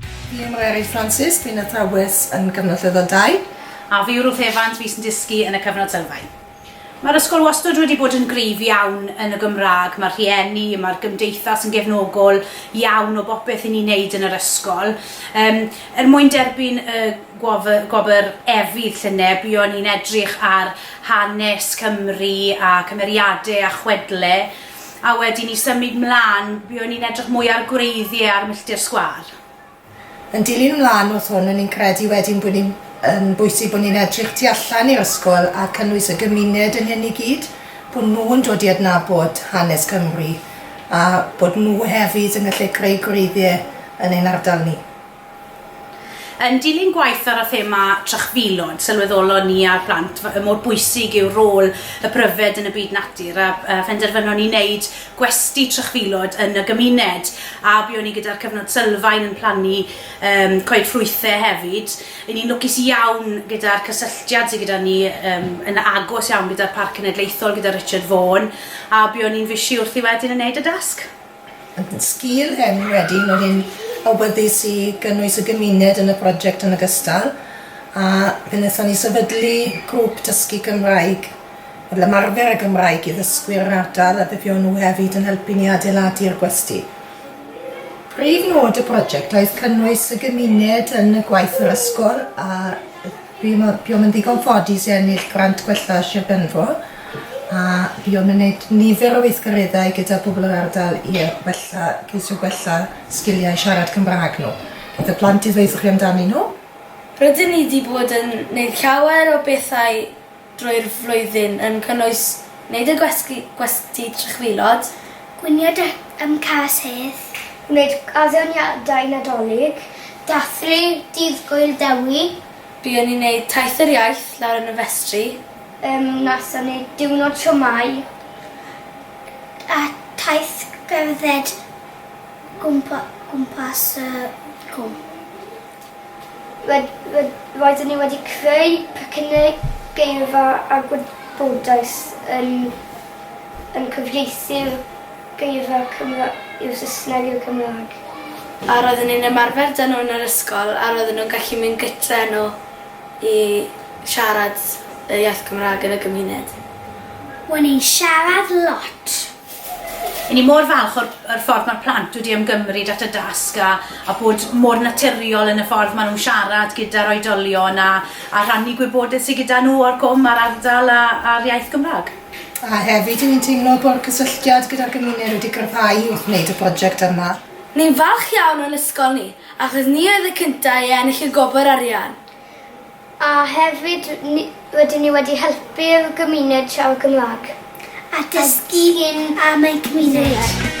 Fi yw Mary Francis, fi'n athrawes yn Cyfnod Lefel 2. A fi yw Ruth Evans, fi sy'n dysgu yn y Cyfnod Sylfaen. Mae'r ysgol wastad wedi bod yn gryf iawn yn y Gymraeg, mae'r rhieni, mae'r gymdeithas yn gefnogol iawn o bopeth i ni'n neud yn yr ysgol. Yym, er mwyn derbyn y gwof- gwobr Efydd llynedd, buon ni'n edrych ar hanes Cymru a cymeriade a chwedle. A wedyn i symud mlan, buon ni'n edrych mwy ar gwreiddie ar milltir sgwâr. Yn dilyn mlan wrth hwn, o'n i'n credu wedyn bod ni'n yn bwysig bod ni'n edrych tu allan i'r ysgol a cynnwys y gymuned yn hyn i gyd, bod nhw'n dod i adnabod hanes Cymru a bod nhw hefyd yn gallu creu gwreiddie yn ein ardal ni. Yn dilyn gwaith ar y thema trychfilod, sylweddolon ni a'r plant y mor bwysig yw rôl y pryfed yn y byd natur a phenderfynon ni wneud gwesty trychfilod yn y gymuned a buon ni gyda'r cyfnod sylfaen yn plannu yym coed ffrwythau hefyd. Ry'n ni'n lwcus iawn gyda'r cysylltiad sydd gyda ni yym yn agos iawn gyda'r Parc Cenedlaethol gyda Richard Vaughan a buon ni'n fishi wrthi wedyn yn wneud y dasg. Sgil hyn wedyn oedd hi'n awyddus i gynnwys y gymuned yn y prosiect yn ogystal a fe wnaethon ni sefydlu grŵp dysgu Cymraeg fel ymarfer y Gymraeg i ddysgwyr yr ardal a fe fuon nhw hefyd yn helpu ni adeiladu'r gwesty. Prif nod y prosiect oedd cynnwys y gymuned yn y gwaith yr ysgol a Fi mo- buom yn ddigon ffodus i ennill grant gwella Sir Benfro a fuom yn neud nifer o weithgareddau gyda pobol yr ardal i yy wella ceisio gwella sgiliau siarad Cymra'g n'w. Fydd y plant i ddweutho chi amdanyn n'w. Rydyn ni 'di bod yn neud llawer o bethau drwy'r flwyddyn yn cynnwys gwneud y gwesty, gwesty trychfilod, gwnïo deck am cas hedd, gwneud addeoniadau Nadolig, dathlu Dydd Gŵyl Dewi, Buon ni'n neud Taith yr Iaith lawr yn y festri. Yym, nathon ni diwrnod siomai a taith gerdded gwmpa- gwmpas y cwm. Ryd, ryd, roedden ni wedi creu pecynnau geirfa a gwybodaeth yn, yn cyfieithu'r geirfa Cymra i'r Saesneg i'r Gymraeg. A roedden ni'n ymarfer da nhw yn yr ysgol a roedden nhw'n gallu mynd gytre â nhw i siarad y iaith Gymraeg yn y gymuned. O'n i'n siarad lot. Y'n ni mor falch o'r o'r ffordd ma'r plant wedi ymgymryd at y dasg a a bod mor naturiol yn y ffordd ma' nhw'n siarad gyda'r oedolion a a rhannu gwybodeth sy gyda nhw o'r cwm a'r ardal a a'r iaith Gymrâg. A hefyd y'n ni'n teimlo bo'r cysylltiad gyda'r gymuned wedi gryfhau wrth wneud y project yma. Ni'n falch iawn o'n ysgol ni achos ni oedd y cynta' i ennill y gwobr arian. A hefyd rydyn ni wedi helpu'r gymuned siarad Cymraeg a dysgu am eu cymuned.